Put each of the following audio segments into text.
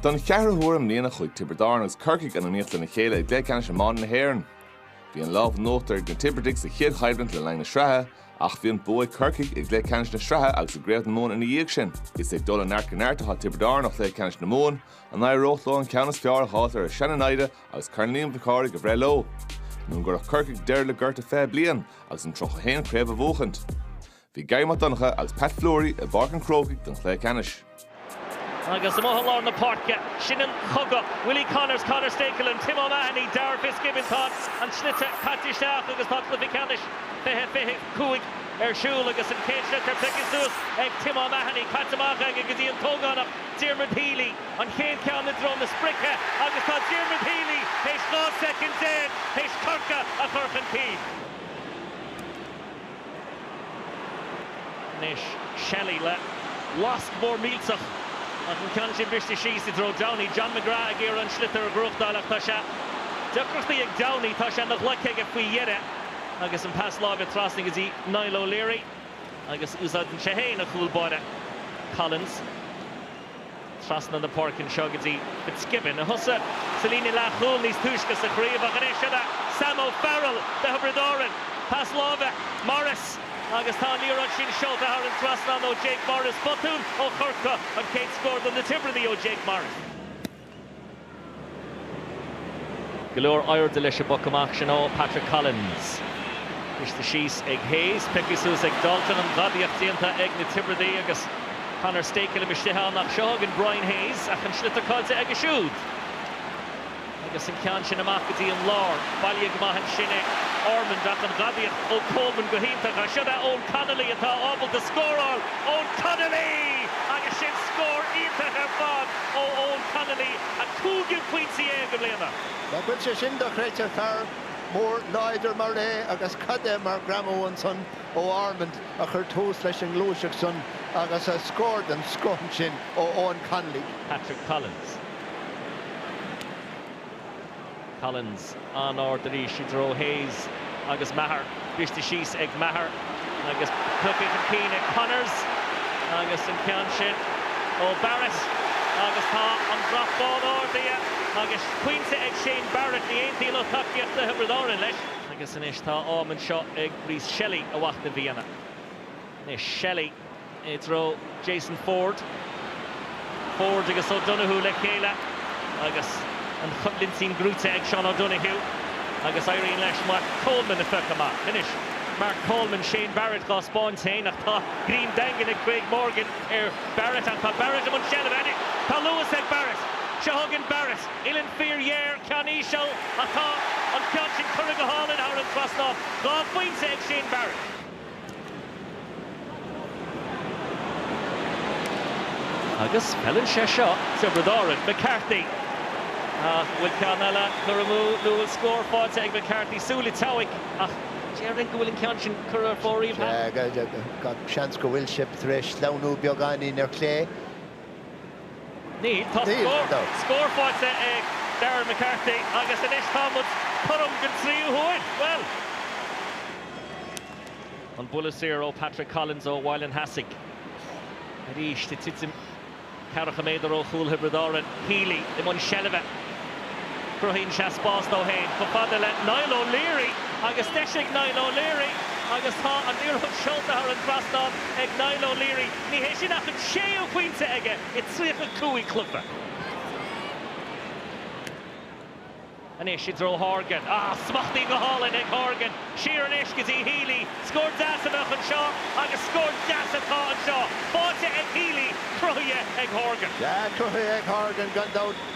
Don cheathrú huair i mbliana chuaigh Tiobraid Árann agus Corcaigh in iomaíocht lena chéile i gCluiche Ceannais Iomána na hÉireann. Bhí an lámh in uachtar ag na Tiobradaigh sa chéad choimhlint le linn na sraithe, ach bhí an bua ag Corcaigh i gcluiche ceannais na sraithe agus i gCraobh na Mumhan ina dhiaidh sin. Is ag dul ó neart go neart atá Tiobraid Árann ó chluiche ceannais na Mumhan, an n-éireodh leo an ceann is fearr a fháil ar a seana-naimhde agus Corn Liam Mhic Cárthaigh a bhreith leo? Nó an gcuirfeadh Corcaigh deireadh le gorta 20 bliain agus an 31ú craobh a bhuachaint? Bhí Garry Mac Donncha agus Pat Fleury i bPáirc an Chrócaigh don chluiche ceannais. Agus amuigh i lár na páirce, sin an cogadh, Willie Connors, Conor Stakelum, Tim O'Mahony, Darragh Fitzgibbon, tá an sliotar caite isteach agus tá cluiche ceannais 2025 ar siúl agus an chéad sliotar pioctha suas ag Tim O'Mahony, caite amach aige go dtí an t-ógánach Diarmuid Healy, an chéad cheann i dtreo na sprice agus tá Diarmuid Healy théis 12 soicind théis Corcaigh a chur chun cinn. Anois Shelley le lasc mór millteach ach an ceann sin briste síos i dtreo Downey. John McGrath ag iarraidh an sliotar a ghnóthachtáil ach tá sé deacrachtaí ag Downey. Tá sé ina ghlaic aige faoi dheireadh agus an pas láimhe trasna go dtí Niall O'Leary agus úsáideann sé féin a chúl báire. Collins. trasna na páirce anseo go dtí Fitzgibbon, a thosaigh sa líne leathchúil níos túisce sa chraobh ach anois siod é Sam O'Farrell do Thiobraid Árann. Pas láimhe, Morris agus tá an liathróid sin seolta thar an trasnán ó Jake Morris. Botún ó Chorcaigh, an chéad scór do na Tiobradaigh ó Jake Morris. Go leor aoirde leis an bpoc amach sin ó Patrick Collins. Briste síos ag Hayes, pioctha suas ag Dalton, an ghadaíocht déanta ag na Tiobradaigh agus Conor Stakelum istigh ann ach seo chugainn Brian Hayes ach an sliotar caillte aige siúd agus an ceann sin amach go dtí an lár. Bailithe go maith ansin ag Ormond ach an ghadaíocht ó Coleman go hiontach ach siod é Eoin Connolly atá ábalta scóráil. Eoin Connolly! Agus sin scór iontach ar fad! ó Eoin Connolly, a chúigiú pointe déag i mbliana. Ná fuil sé sin dochreidte, fear mór láidir mar é agus cad é mar ghreamú ansan ó Ormond a chuir tús leis an ngluaiseacht san agus a scór den scoth ansin ó Eoin Connolly. Patrick Collins. Collins, an-ard arís i dtreo Hayes agus Maher, briste síos ag Maher agus tugtha chun cinn ag Connors agus an ceann sin ó Barrett agus tá an brat bán ardaithe agus pointe ag Shane Barrett, ní aontaíonn lucht tacaíochta Thiobraid Árann leis. Agus anois tá am anseo ag Rhys Shelley a mhachnamh a dhéanamh. Anois Shelley i dtreo Jason Forde. Forde agus O'Donoghue le chéile agus an choimhlint sin gnóite ag Seán O'Donoghue agus éiríonn leis Mark Coleman a phiocadh amach. Anois Mark Coleman, Shane Barrett dhá 'speáint féin ach tá greim daingean ag Craig Morgan ar Barrett ach tá Barrett i mbun seilbhe anois. Tá luas ag Barrett. Seo chugainn Barrett. Uillinn fíorghéar, ceann íseal ach tá an ceann sin curtha go hálainn thar an trasnán. Dhá phointe ag Shane Barrett. Agus feileann sé seo Tiobraid Árann. McCarthy An bhfuil ceann eile curtha amú nó an bhfuil scór faighte ag McCarthy? Súil an tSeabhaic ach déarfainn go bhfuil an ceann sin curtha ar fóraoil thart. Seans go bhfuil sí tar éis sleamhnú beagáinín ar chlé. Níl. Tá scór faighte ag Darragh McCarthy agus anois tá muid cothrom don tríú huair. Bhuel. An buille saor ó Patrick Collins ó Bhaile an Cheasaigh. Arís, ag titim ceathracha méadar ó chúl Thiobraid Árann. Healy i mbun seilbhe. Cruthaíonn sé spás dó fhéin chomh fada le Niall O'Leary agus deis ag Niall O'Leary agus tá an iarracht seolta thar an trasnán ag Niall O'Leary. Ní hé sin ach an séú pointe aige i 35 cluiche. Anois i dtreo Horgan. Ah, smachtaithe go hálainn ag Horgan. Siar anois go dtí Healy. Scór deas a bheadh anseo agus scór deas atá anseo. Faighte ag Healy, cruthaithe ag Horgan. Yeah, cruthaithe ag Horgan gan dabht.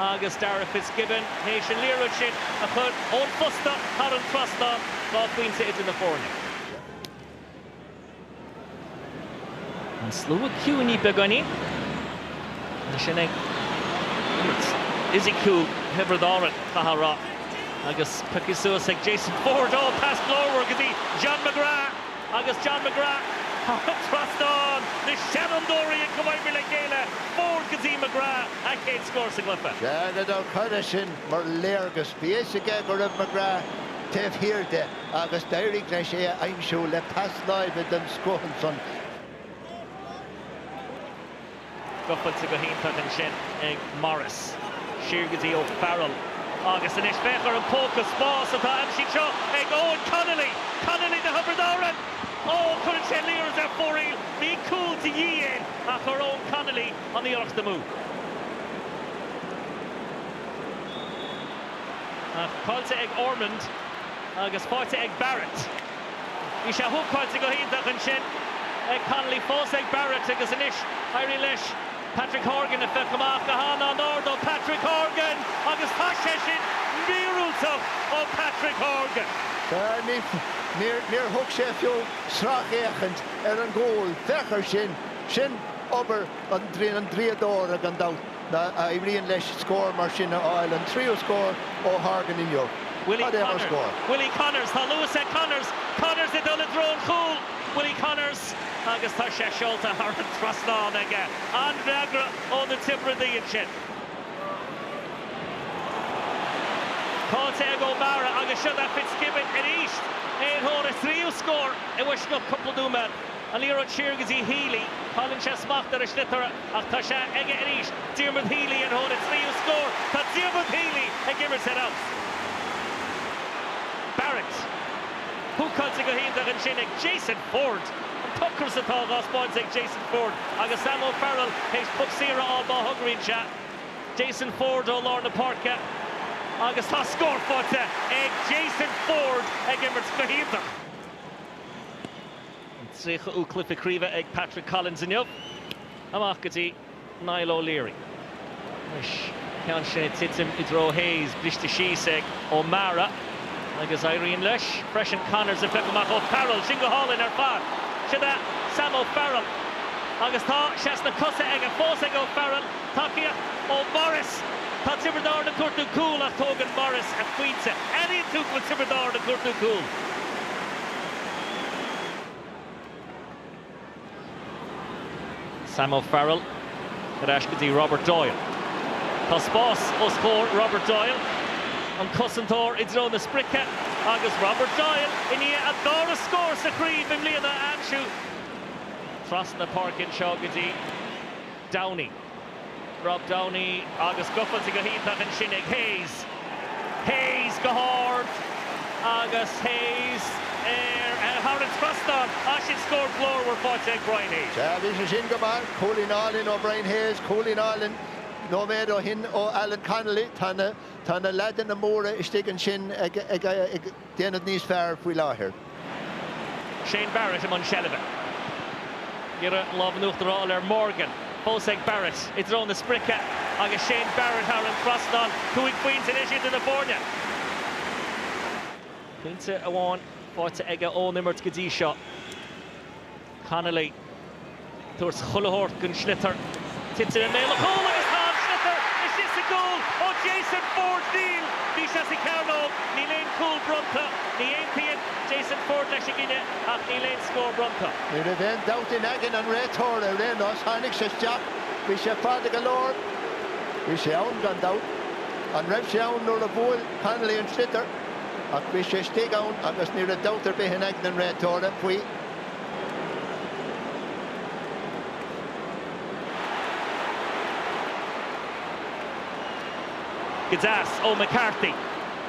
agus Darragh Fitzgibbon tar éis an liathróid sin a chur ón bposta thar an trasnán, dhá phointe idir na foirne. An slua ciúnaithe beagáinín mar sin ag imirt fhisiciúil Thiobraid Árann, caithfidh a rá, agus pioctha suas ag Jason Forde. Ó, pas glórmhar go dtí John McGrath. agus John McGrath thar trasnán, na seanfhondúirí ag comhoibriú le chéile, Forde go dtí McGrath a chéad scór sa gcluiche. Sea, gan dabht, cad é sin mar léargas. Bhí fhios aige go raibh McGrath taobh thiar de agus d'éirigh leis é a aimsiú le pas láimhe den scoth ansan. Gabháilte go hiontach ansin ag Morris. Siar go dtí O'Farrell agus anois féach ar an bpóca spáis atá aimsithe anseo ag Eoin Connolly. Connolly do Thiobraid Árann! Ó, cuireann sé liathróid ar fóraoil. Bhí cúl de dhíth ach chuir Eoin Connolly an iarracht amú. Ach caillte ag Ormond agus faighte ag Barrett. Bhí sé húcáilte go hiontach ansin ag Connolly, fós ag Barrett agus anois éirigh leis Patrick Horgan a phiocadh amach go han-an-ard ó Patrick Horgan agus tá sé sin míorúilteach ó Patrick Horgan! Níor thug sé fiú sracfhéachaint ar an gcúl, féach ar sin, sin obair an draíodóra gan dabht. n-éiríonn leis scór mar sin a fháil, an tríú scór ó Horgan inniu. Cad é mar scór! Willie Connors, tá luas ag Connors, Connors ag dul i dtreo an chúil! Willie Connors agus tá sé seolta thar an trasnán aige. An-fhreagra ó na Tiobradaigh ansin. Gabháilte ag O'Meara agus seo Darragh Fitzgibbon arís. É ar thóir a thríú scór i bhfoisceacht cúpla nóiméad. An liathróid siar go dtí Healy. Cailleann sé smacht ar an sliotar. Ach tá sé aige arís. Diarmuid Healy ar thóir a thríú scór. Tá Diarmuid Healy ag imirt ar a mhian. Barrett. Húcáilte go hiontach ansin ag Jason Forde. An t-ocras atá á thaispeáint ag Jason Forde agus Sam O'Farrell théis puc saor a fháil dá thogróinnse Jason Forde ó lár na páirce agus tá scór faighte ag Jason Forde ag imirt go hiontach. An 30ú cluiche craoibhe ag Patrick Collins inniu. Amach go dtí Niall O'Leary. Anois ceann sin ag titim i dtreo Hayes. Briste síos ag O'Meara agus éiríonn leis freisin Connors a phiocadh amach. O'Farrell. Sin go hálainn ar fad. Siod é Sam O'Farrell agus tá sé sna cosa aige fós ag O'Farrell. Tacaíocht ó Morris. Tá Tiobraid Árann ag cuartú cúl ach tógann Morris a phointe. Airíonn tú go bhfuil Tiobraid Árann ag cuartú cúl. Sam O'Farrell ar ais go dtí Robert Doyle. Tá spás os comhair Robert Doyle. An cosantóir i dtreo na sprice agus Robert Doyle i ndiaidh a dara scór sa chraobh i mbliana a aimsiú trasna páirce anseo go dtí Downey. Rob Downey agus gabháilte go hiontach ansin ag Hayes. Hayes go hard agus Hayes thar an trasnán. Ah, sin scór glórmhar faighte ag Brian Hayes. Sea, bhí sé sin go maith. Cúilín álainn ó Brian Hayes, cúilín álainn nóiméad ó shin ó Alan Connolly. Tá na leaideanna móra istigh ansin ag. déanamh níos fearr faoi láthair. Shane Barrett i mbun seilbhe. Ag iarraidh an lámh in uachtar a fháil ar Morgan. Fós ag Barrett i dtreo na sprice agus Shane Barrett thar an trasnán. Cúig phointe anois idir na foirne. Pointe amháin faighte aige ón imirt go dtí seo. Connolly, tabhairt chuile shórt don sliotar, titeann i mbéal a chúil agus tá an sliotar istigh sa gcúl ó Jason Forde! Níl! Bhí sé sa chearnóg! Níl aon chúl bronnta. Ní aontaíonn Jason Forde leis an gcinneadh ach níl aon scór bronnta. Ní raibh aon dabht in aigne an réiteora ar aon nós, tháinig sé isteach, bhí sé fada go leor, bhí sé ann gan dabht. An raibh sé ann nuair a bhuail Connolly an sliotar? Ach bhí sé istigh ann agus ní raibh dabht ar bith in aigne an réiteora faoi. Go deas ó McCarthy.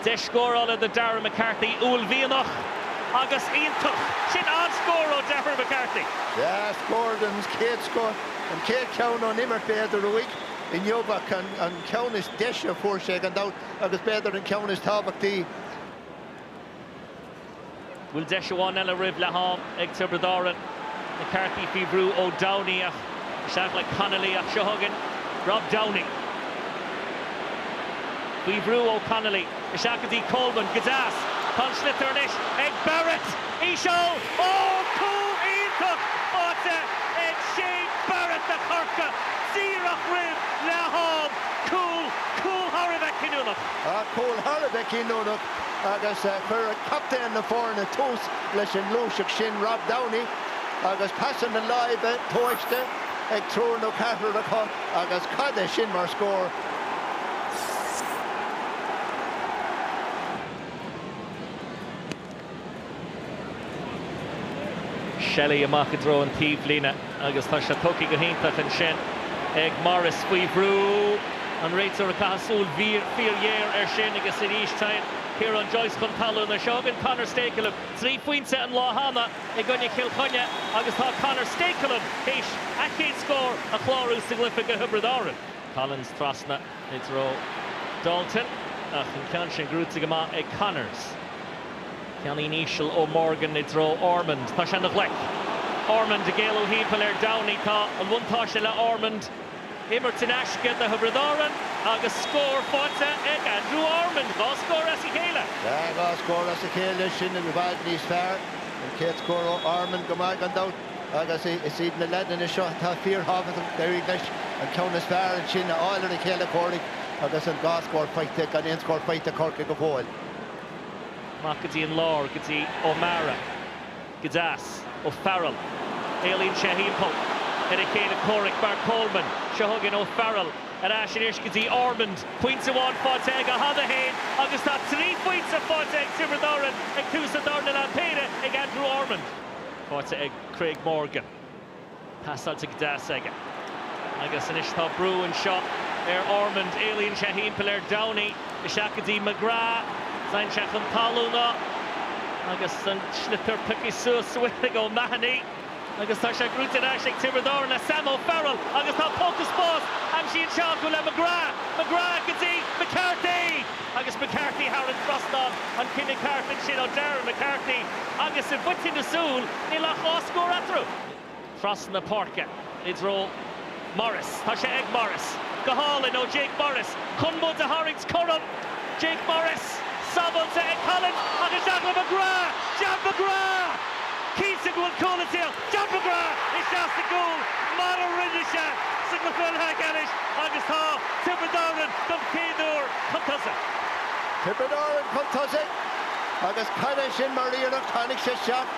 Deis scórála do Darragh McCarthy. Uaillmhianach agus iontach. Sin an-scór ó Darragh McCarthy! Yeah, scór den chéad scoth, an chéad cheann ón imirt b'fhéidir uaidh inniu ach an ceann is deise a fuair sé gan dabht agus b'fhéidir an ceann is tábhachtaí. bhfuil deis amháin eile roimh leath-am ag Tiobraid Árann. McCarthy faoi bhrú ó Downey ach isteach le Connolly ach seo chugainn Rob Downey. Faoi bhrú ó Connolly, isteach go dtí Coleman, go deas! Tá an sliotar anois ag Barrett! Íseal! Ó! Cúl iontach áite ag Shane Barrett do Chorcaigh díreach roimh leath-am. Cúl, cúl thar a bheith cinniúnach. Tá cúl thar a bheith cinniúnach agus chuir captaen na foirne tús leis an ngluaiseacht sin, Rob Downey, agus pasanna láimhe tomhaiste ag triúr nó ceathrar acu agus cad é sin mar scór! Shelley amach i dtreo an taobhlíne agus tá sé tógtha go hiontach ansin ag Morris. Faoi bhrú an réiteoir ag caitheamh súil fíorghéar air sin agus arís téann Ciarán Joyce chun talún leis. Seo chugainn Conor Stakelum. Trí phointe an lá cheana i gcoinne Chill Chainnigh agus tá Conor Stakelum théis a chéad scór a chlárú sa gcluiche go Thiobraid Árann. Collins trasna. I dtreo Dalton ach an ceann sin gnóite go maith ag Connors. Ceann íseal ó Morgan i dtreo Ormond. Tá sé ina ghlaic. Ormond ag éalú thimpeall ar Downey. Tá an buntáiste le Ormond. Imirt in aisce do Thiobraid Árann agus scór faighte ag Andrew Ormond. Dhá scór as a chéile. Tá dhá scór as a chéile, sin i bhfad níos fearr. An chéad scór ó Ormond go maith gan dabht. agus is iad na leaideanna seo atá fíorthábhachtach, d'éirigh leis an ceann is fearr ansin a fháil ar a chéile comhraic agus an dá scór faighte gan aon scór faighte ag Corcaigh go fóill. Amach go dtí an lár, go dtí O'Meara. Go deas. O'Farrell. Éalaíonn sé thimpeall ar a chéile comhraic. Mark Coleman. Seo chugainn O'Farrell ar ais anois go dtí Ormond. Pointe amháin faighte aige cheana féin agus tá trí phointe faighte ag Tiobraid Árann ag tús an darna leath, péire ag Andrew Ormond. Faighte ag Craig Morgan. Pasáilte go deas aige. Agus anois tá brú anseo ar Ormond. Éalaíonn sé thimpeall ar Downey. Isteach go dtí McGrath. Téann sé chun talúna. Agus an sliotar pioctha suas sa bhfuil ag O'Mahony. Agus tá sé gnóite ar ais ag Tiobraid Árann le Sam O'Farrell. Agus tá póca spáis aimsithe anseo acu le McGrath. McGrath go dtí McCarthy! Agus McCarthy thar an trasnán, an cinneadh ceart ansin ó Darragh McCarthy agus i bhfaiteadh na súl níl ach dhá scór eatarthu. Trasna páirce i dtreo Morris, tá sé ag Morris, go hálainn ó Jake Morris chun muid a tharraingt cothrom. Jake Morris sábháilte ag Collins agus John McGrath, John McGrath! Cinnte go bhfuil cúl istigh. John McGrath isteach sa gcúl mar a rinne sé sa gcluiche leathcheannais agus tá Tiobraid Árann don chéad uair chun tosaigh. Tiobraid Árann chun tosaigh agus cad é sin mar iarracht, tháinig sé isteach,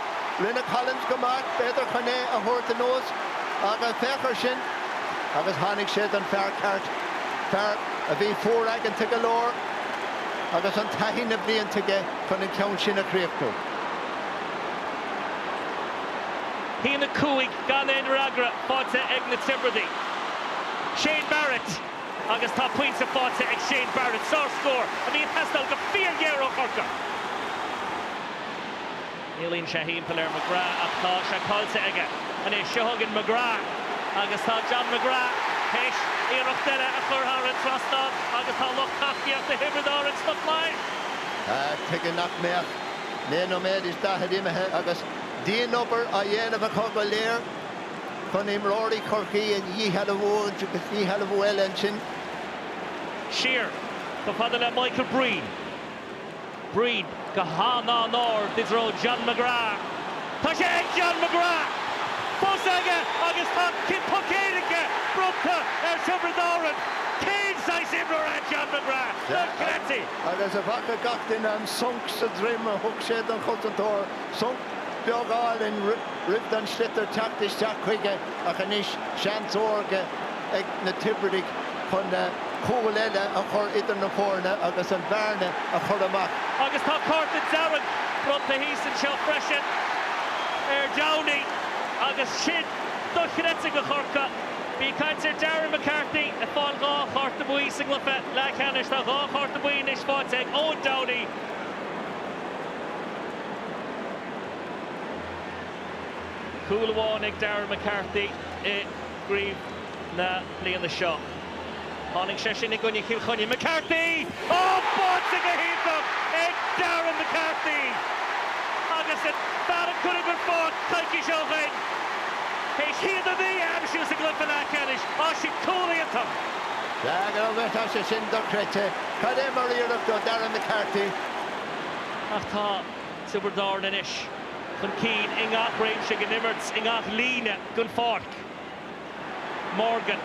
rinne Collins go maith, b'fhéidir chun é a thabhairt anuas ach féach ar sin agus tháinig sé don fear ceart, fear a bhí fuaraigeanta go leor agus an taithí, na blianta aige chun an ceann sin a chríochnú. Haon a cúig, Gan aon fhreagra faighte ag na Tiobradaigh. Shane Barrett agus tá pointe faighte ag Shane Barrett. Sárscór a bhí ag teastáil go fíorghéar ó Chorcaigh. Éalaíonn sé thimpeall ar McGrath ach tá sé caillte aige anois. Seo chugainn McGrath agus tá John McGrath théis iarracht eile a chur thar an trasnán agus tá lucht tacaíochta Thiobraid Árann sna flaithis. Tuige nach mbeadh? naoi nóiméad is daichead imithe agus dianobair á dhéanamh acu go léir chun imreoirí Chorcaí a dhíshealbhú agus díshealbhú eile ansin. Siar chomh fada le Michael Breen. Breen go han-an-ard i dtreo John McGrath. Tá sé ag John McGrath! Fós aige agus tá poc éirice bronnta ar Thiobraid Árann. Cén saghas imreoir é John McGrath? Dochreidte. agus an bhfaca gach duine an sonc sa droim a thug sé don chosantóir, sonc beag álainn roimh don sliotar teacht isteach chuige ach anois seans órga ag na Tiobradaigh chun cúl eile a chur idir na foirne agus an bhearna a chur amach. Agus tá cárta dearg bronnta thíos anseo freisin ar Downey agus sin dochreidte do Chorcaigh. Bhí caint ar Darragh McCarthy ag fáil dhá chárta buí sa gcluiche leathcheannais. Tá dhá chárta buí anois faighte ag Eoin Downey. Cúl amháin ag Darragh McCarthy i gcraobh na bliana seo. Tháinig sé sin i gcoinne Chill Chainnigh. McCarthy! Á, báite go hiontach ag Darragh McCarthy! Agus an fear a cuireadh den pháirc coicís ó shoin, théis a haon a naoi a aimsiú sa gcluiche leathcheannais. Á, sin cúl iontach! Sea, go raibh leis. Tá sé sin dochreidte. Cad é mar iarracht ó Darragh McCarthy. Ach tá Tiobraid Árann anois chun cinn i ngach réimse den imirt, i ngach líne den pháirc. Morgan,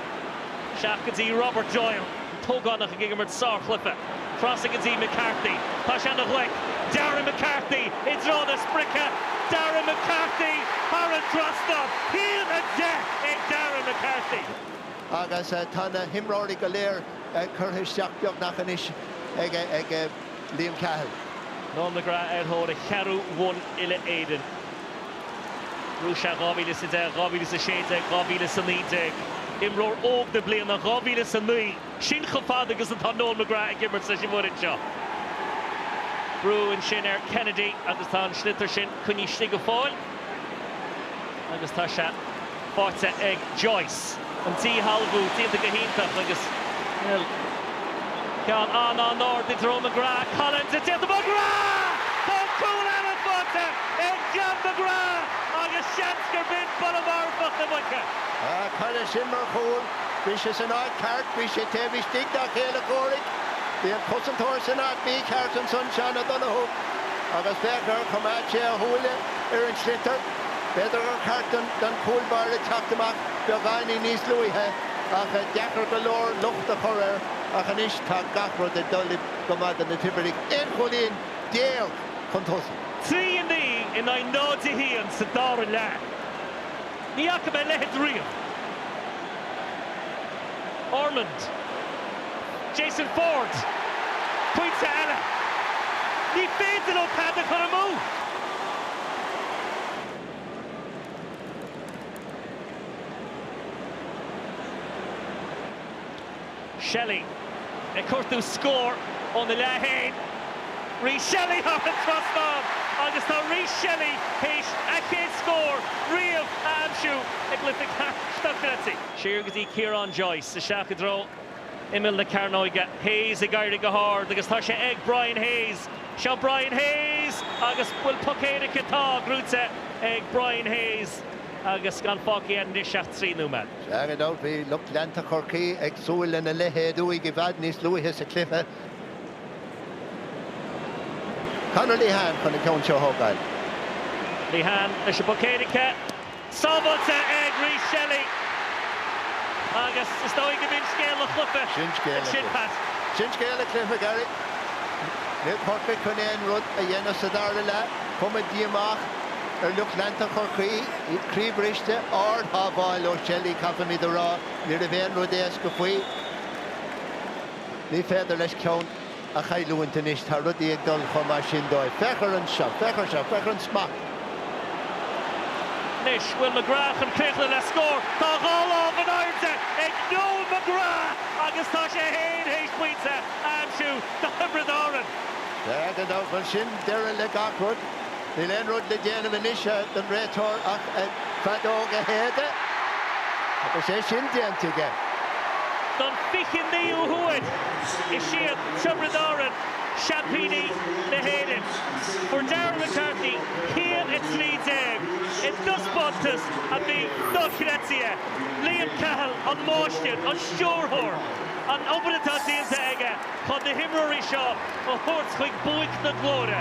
isteach go dtí Robert Doyle, an t-ógánach ag imirt sárchluife. Trasna go dtí McCarthy. Tá sé ina ghlaic. Darragh McCarthy i dtreo na sprice. Darragh McCarthy thar an trasnán. A haon a deich ag Darragh McCarthy. Agus tá na himreoirí go léir curtha isteach beagnach anois ag. Liam Cahill. Noel McGrath ar thóir a cheathrú bhonn uile-Éireann. Ghnóthaigh sé 2010, 2016, 2019, Imreoir Óg na Bliana 2009, sin chomh fada agus atá Noel McGrath ag imirt leis an bhfoireann seo. Brú ansin ar Kennedy agus tá an sliotar sin coinnithe istigh go fóill. Agus tá sé faighte ag Joyce. An díshealbhú déanta go hiontach agus ceann an-an-ard i dtreo McGrath. Collins ag déanamh McGrath! Tá an cúl eile faighte ag John McGrath agus seans gurb in buille marfach na muice. Á, cad é sin mar chúl. Bhí sé san áit ceart, bhí sé taobh istigh dá chéile comhraic. Bhí an cosantóir san áit mhícheart ansan, Seán O'Donoghue, agus féach gur choimeád sé a shúile. Ar an sliotar, b'fhéidir gur cheart don chúl báire teacht amach beagáinín níos luaithe ach deacair go leor locht a chur air ach anois tá gach rud ag dul go maith do na Tiobradaigh, aon chúilín déag chun tosaigh. 3, 9 in aghaidh 0, 1 sa dara leath. Ní fhaca mé a leitheid riamh. Ormond. Jason Forde. Pointe eile. Ní féidir leo tada a chur amú! Shelley ag cuartú scór óna leath fhéin. Rhys Shelley thar an trasnán agus tá Rhys Shelley théis a chéad scór riamh a aimsiú i gcluiche ceannais na Craoibhe. Siar go dtí Ciarán Joyce. Isteach i dtreo imeall na cearnóige. Hayes ag éirí go hard agus tá sé ag Brian Hayes. Seo Brian Hayes agus bhfuil poc éirice? Tá. Gnóite ag Brian Hayes agus gan fágtha anois ach trí nóiméad. Gan aon dabht bhí lucht leanta Chorcaí ag súil lena leithéad uaidh i bhfad níos luaithe sa chluiche. Conor Lehane chun an ceann seo a thógáil. Lehane leis an bpoc éirice. Sábháilte ag Rhys Shelly. Agus is dóigh go mb'in scéal an chluife ansin, Pat. Sin scéal an chluife, Gary. Níl Corcaigh chun aon rud a dhéanamh sa dara leath. Cuma díomách. Ar lucht leanta Chorcaí, iad croíbhriste, ardshábháil ó Shelly caithfimid a rá, ní raibh aon rud éasca faoi. Ní féidir leis ceann a chailliúint anois, tá rudaí ag dul chomh maith sin dóibh. Féach air anseo, féach ar seo, féach ar an smacht. Anois, bhfuil McGrath chun críochnú le scór. Tá dhá lámh in airde ag Noel McGrath agus tá sé fhéin théis pointe a aimsiú do Thiobraid Árann. Gan dabht ar domhan, sin deireadh le gach rud. Níl aon rud le déanamh anois don réiteoir ach a feadóg a shéideadh agus é sin déanta aige. Don 29ú huair, is iad Tiobraid Árann seaimpíní na hÉireann. Fuair Darragh McCarthy cúl 13 i dtaispeántas a bhí dochreidte. Liam Cahill an máistir, an stiúrthóir, an obair atá déanta aige. chun na himreoirí seo a thabhairt chuig buaic na glóire.